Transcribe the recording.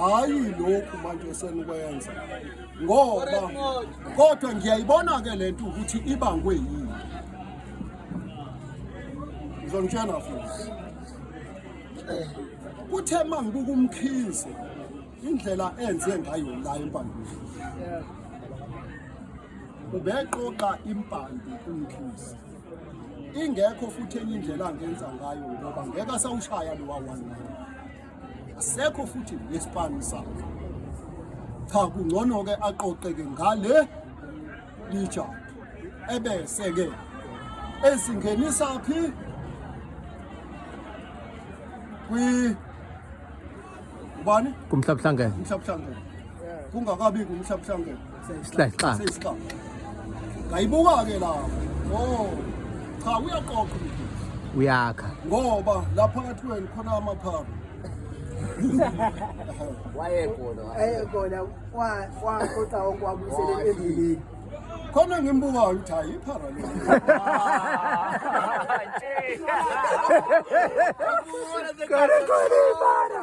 hayi lokhu manje esenikwenza ngoba kodwa ngiyayibona-ke le nto ukuthi ibangwe yini ngizonitshena futhi kuthe uma ngibuka umkhize indlela enze ngayo la empandwini ubeqoqa impande umkhize ingekho futhi enye indlela angenza ngayo ngoba ngeke asawushaya lowa one asekho futhi nesipani sakhe cha kungcono-ke aqoqeke ngale lija ebese-ke ezingenisa phi kwi ubani kumhlabuhlangene kumhlabuhlangene kungakabi kumhlabuhlangene Slayixaka. Seyisixaka. Ngayibuka ke la. Oh. Cha uyaqoqa umkhize. Uyakha. Ngoba la phakathi kwenu khona amaphaphu. Wayekhona. Ayekona kwa kwa kodwa okwabuyisele endleleni. Khona ngimbukayo ukuthi hayi iphara le. Kore kore ibara.